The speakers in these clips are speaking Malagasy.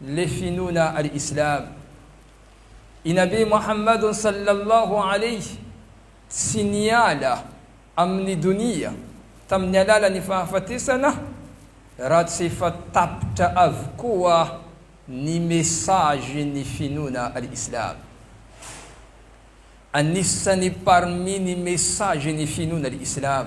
Le finoana ary Islam i Nabi Mohammad sallallahu alayh tsy niala amin'ny donia tamin'ny alalan'ny fahafatesana raha tsy efa tapitra avokoa ny messagen'ny finoana ary Islam. Anisan'ny parmi ny messagen'ny finoana ary Islam.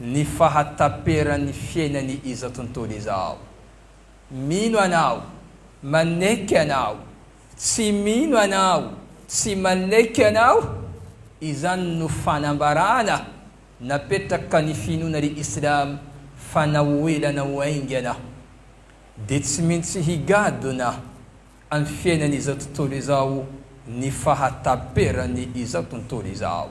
ny fahataperan'ny fiainany izao tontolo izao. Mino anao, maneky anao, tsy mino anao, tsy maneky anao, izany no fanambarana napetraka ny finoana ry Islam fa na ho ela na ho haingana dia tsy mintsy higadona amin'ny fiainany izao tontolo izao ny fahataperan'ny izao tontolo izao.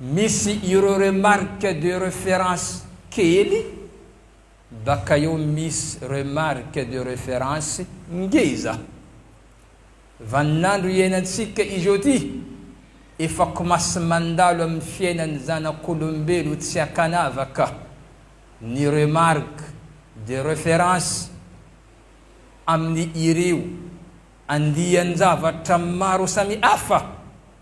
misy ireo remarque de reference kely, baka eo misy remarque de reference ngeza. Vaninandro iainantsika izao ty, efa komasy mandalo amin'ny fiainan'ny zanak'olombelo tsy ankanavaka ny remarque de reference amin'ny ireo andian-javatra maro samihafa.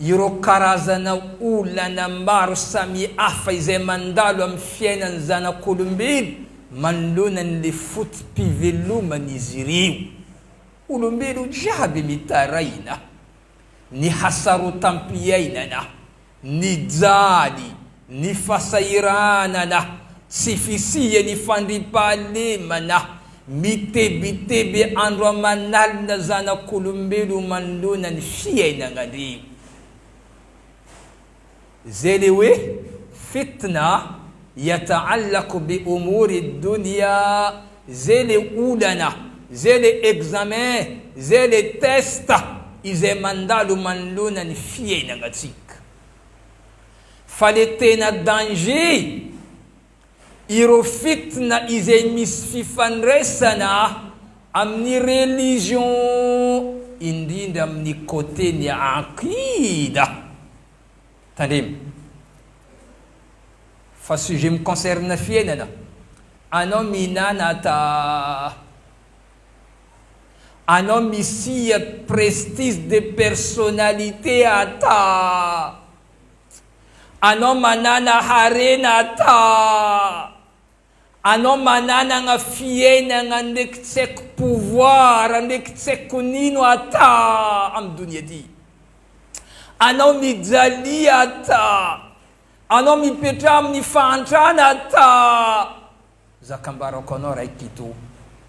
ireo karazana olana maro samihafa izay mandalo amin'ny fiainan'ny zanak'olombelo manoloana ny le foto-piveloman'izy ireo. Olombelo jiaby mitaraina ny hasarotam-piainana. Nijaly ny fasahiranana sy fisian'ny fandriampahalemana mitebiteby andro aman'alina zanak'olombelo manoloana ny fiainagna ndry zay le hoe fitna Yata'allaq bi umuri dunya, zay le olana, zay le examen, zay le test izay mandalo manoloana ny fiainagnatsika. Fa le tena danger, ireo fitna izay misy fifandraisana amin'ny religion, indrindra amin'ny côté ny aqida. Tandremo fa sujet mi concerne fiainana anao mihinana ta anao misia prestige de personnalité ta anao manana harena ta Anao mananagna fiainagna ndraiky tsy aiko pouvoir ndraiky tsy aiko nino ata am donia ty. Anao mijalia ata. Anao mipetraha amin'ny fahantrana ata. Za kambarako anao ray pito.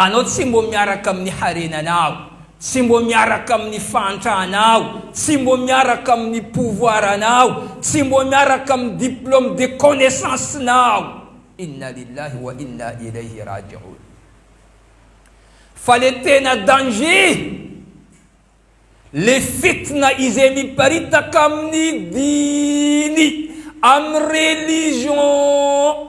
Anao tsy mbo miaraka amin'ny harenanao, tsy mbo miaraka amin'ny fahantranao, tsy mbo miaraka amin'ny pouvoiranao, tsy mbo miaraka amin'ny diplôme de connaissance-nao. Inna lillahi wa inna ilayhi raji'oun. Fa le tena danger, le fitna izay miparitaka amin'ny diny, amin'ny religion,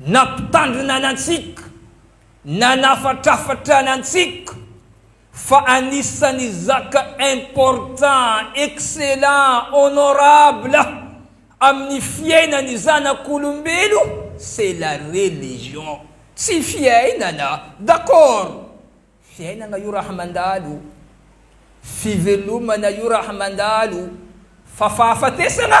Nampitandrina antsika, nanafatrafatra antsika fa anisany zaka important, excellent, honorable amin'ny fiainan'ny zanak'olombelo c'est la religion. Tsy fiainana, d'accord, fiainana io raha mandalo, fivelomana io raha mandalo, fa fahafatesana?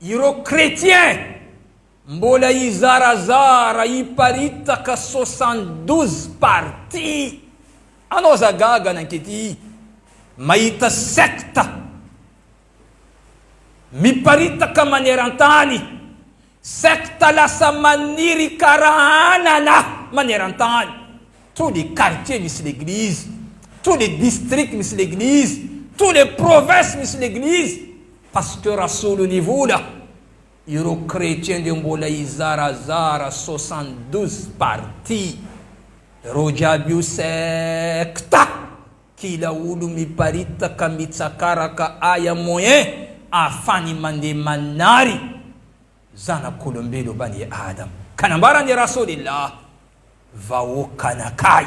Ireo chrétien mbola hizarazara hiparitaka soixante douze parti anao za gaga nankety mahita secte miparitaka manerantany secte lasa maniry kara anana manerantany tous les quartiers misy l'église tous les districts misy l'église tous les provinces misy l'église Pasteur asolo ny vola ireo chretien de mbola hizarazara soixante douze parti reo jiaby io secte kila olo miparitaka mitsakaraka aya moyen afany mande manary zanakolombelo bani adam ka nambarany rasoly lah vahoakanakay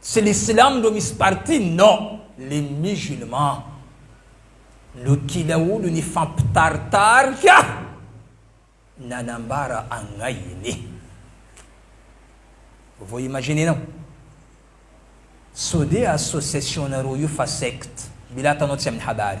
Tsy ny silamo no misy parti non les musulmans no kila olo nifampitaritarika nanambara agnahiny. Vao imaginenao sode association nareo io fa secte mila atanao tsy aminy habary.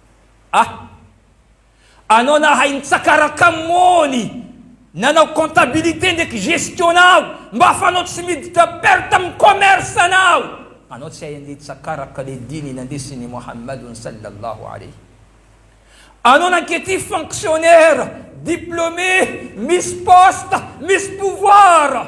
Ah! Anao nahay nitsakaraka mony, nanao comptabilité ndraiky gestion nao, mba fa anao tsy miditra perte amin'ny commerce nao! Anao tsy hay andeha hitsakaraka le diny nandesin'i Mohamadon Sallallahu Alayhi. Anao nankety fonctionnaire, diplômé, misy poste, misy pouvoir.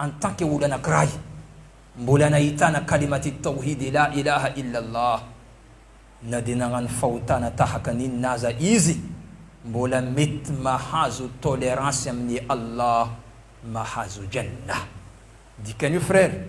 En tant que olona anakiray mbola nahitana kalimat at-tawhid la ilaha illa Allah na dia nagnano fahotana tahaka ny inona aza izy mbola mety mahazo tolerance amin'i Allah mahazo Jannah. Dikan'io frère.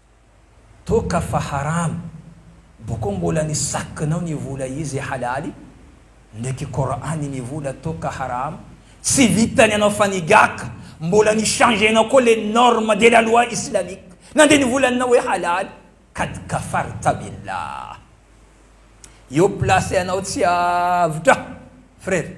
Toaka fa haram. Boko mbola ny sac nao ny vola izy halaly ndraiky Coran ny vola toaka haram tsy vitany anao fa ny gac mbola ny changer nao koa le norme de la loi islamique nande ny volanao hoe halaly kad kafarta billah eo place anao tsy avotra frere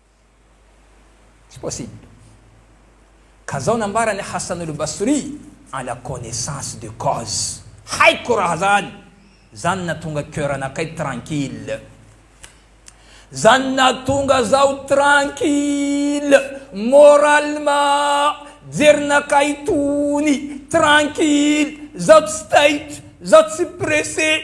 Tsy possible. Ka zao nambara ny Hassan Al Basri en la connaissance de cause. Haiko raha zany. Zany natonga coeur anakay tranquille. Zany natonga zaho tranquille moralement. Jerinakay tony tranquille. Zaho tsy taitra, zaho tsy pressé.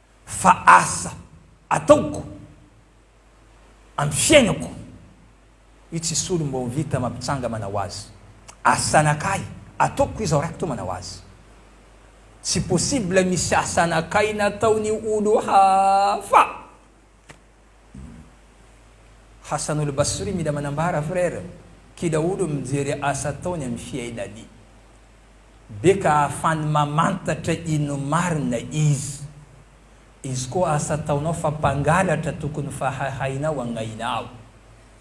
Fa asa ataoko am fiainako io tsy solo mba ho vita mampitsanga manao azy asa anakahy ataoko izaho raiko to manao azy tsy possible misy asa anakahy nataony olo hafa. Hassan Al Basri mila manambara frère ki daholo mijery asa ataony am Fiaina Ali be ka ahafany mamantatra ino marina iz iz koa asa ataonao fa mpangalatra tokony fa hahainao agnainao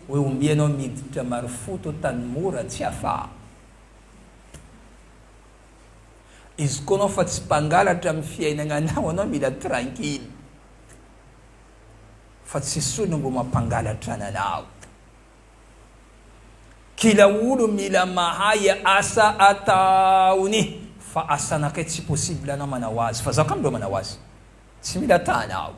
oe ombianao miditra marofoto tany mora tsy afaha iz koa anao fa tsy mpangalatra am fiainagnanao anao mila tranquille. fa tsy sony ngo mampangalatra anao. Kila olo mila mahay asa ataony fa asanakay tsy possible anao manao azy fa zaho ka mlo manao azy tsy mila tanao.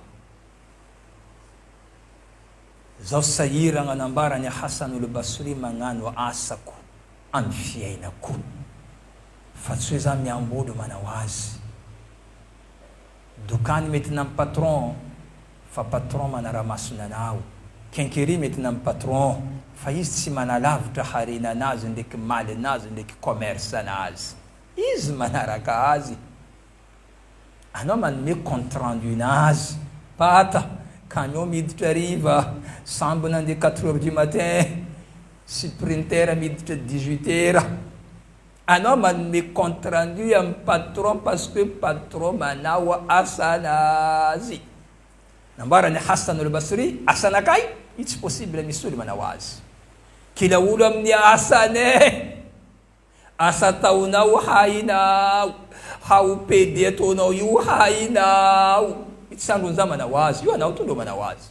Zaho sahiragna nambara ny Hassan olo Basory magnano asako amy fiainako fa tsy hoe za miambolo manao azy. Dokany mety nam patron fa patron manaramaso ny anao, kenkeri mety nam patron fa izy tsy manalavitra harena anazy ndreky maly anazy ndreky commerce anazy, izy manaraka azy anao manome compte rendu nazy, pat, camion miditra hariva sambo nandeha quatre heures du matin sy printer miditra dix huit heures, Anao manome compte rendu amin'ny patron parce que patron manao asanazy. Nambarany i Hassan al-Basri, asanakay io tsy possible misy olo manao azy. Kila olo amin'ny asany eh! Asa ataonao hainao, ha ho pede ataonao io hainao. Io tsy sandron'za manao azy, io anao to ndro manao azy.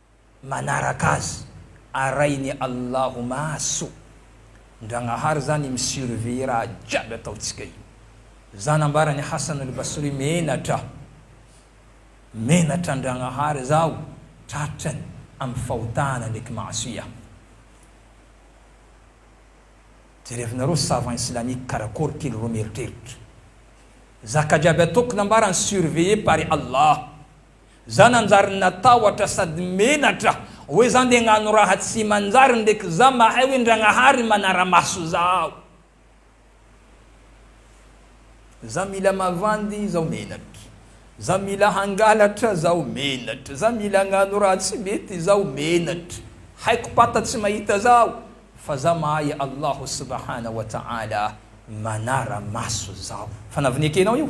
manaraka azy arahin'i Allahu maso Ndragnahary zany mi surveiller raha jiaby ataontsika io Za nambaran'i Hasanul Basri menatra menatra Ndragnahary zaho tratrany amin'ny fahotana ndreky maasiya Jerevinareo savant islamique karakory kely reo mieritreritra zaka jiaby ataoko nambarany surveiller par i Allah Za nanjary natahotra sady menatra hoe za nde agnano raha tsy manjary ndreky za mahay hoe Ndragnahary manaramaso zaho. Za mila mavandy zaho menatra. Za mila hangalatra zaho menatra. Za mila agnano raha tsy mety zaho menatra. Haiko pata tsy mahita zaho fa za mahay Allah subahana wa taala manaramaso zaho. Fa navneke nao io?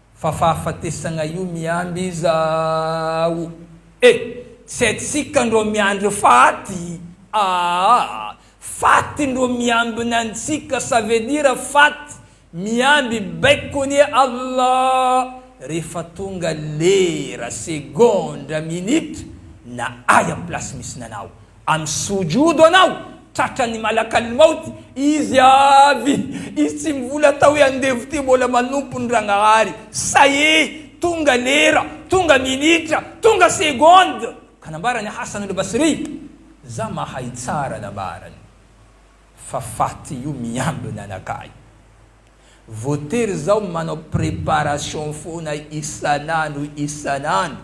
Fa fahafatesagna io miandry izaho e! Tsy haintsika ndrô miandry faty aa! Faty ndrô miambina antsika ça veut dire faty miamby baikony e Allah! Rehefa tonga lera, segondra, minitra na ahy am place misy nanao Amin'ny sojodo anao tratran'ny malakal maut izy avy izy tsy mivola atao hoe andevo ty mbola manompo ny ragnahary sae tonga lera tonga minitra tonga seconde ka nambarany hasan al basri za mahay tsara nambarany fa faty io miambina anakahy voatery zaho manao preparation foana isan'andro isan'andro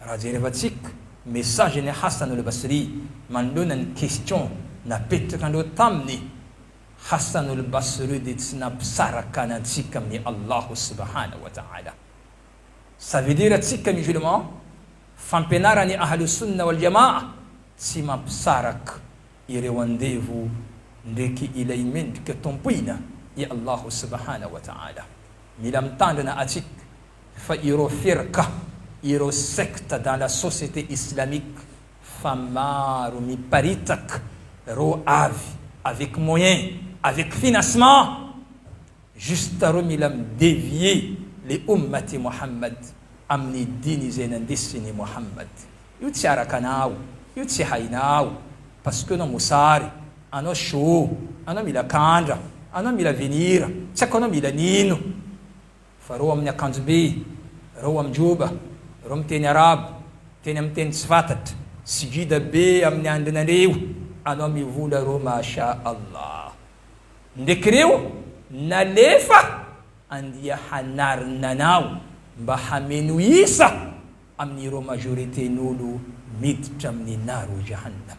Raha jerevantsika message n'i Hassan Olbasri manoloana ny question napetraka andreo taminy, Hassan Olbasri dia tsy nampisaraka antsika amin'i Allah Subhanahu wa Ta'ala. Ça veut dire tsika musulman, fampianaran'i Ahl-Sunnah wal Jamaah tsy mampisaraka ireo andevo ndreky ilay mendrika tompoina i Allah Subhanahu wa Ta'ala. Mila mitandrina atsika. Fa ireo firka, ireo secte dans la société islamique fa maro miparitaka reo avy avec moyen, avec financement, juste reo mila mi devier le Oummat-i Mohammad amin'ny diny izay nandesin'i Mohammad. Io tsy araka anao, io tsy hainao, parce que anao mosary, anao show, anao mila kandra, anao mila venir, tsy haiko anao mila nino. Fa reo amin'ny akanjomby, reo amin-joba, reo miteny arabo, teny amin'ny teny tsy fatatra, sy gida be amin'ny andrinareo anao mivola reo Masha Allah. Ndreky reo nalefa andia hanarina anao mba hameno isa amin'ireo majorité-n'olo miditra amin'ny naro Jahannam.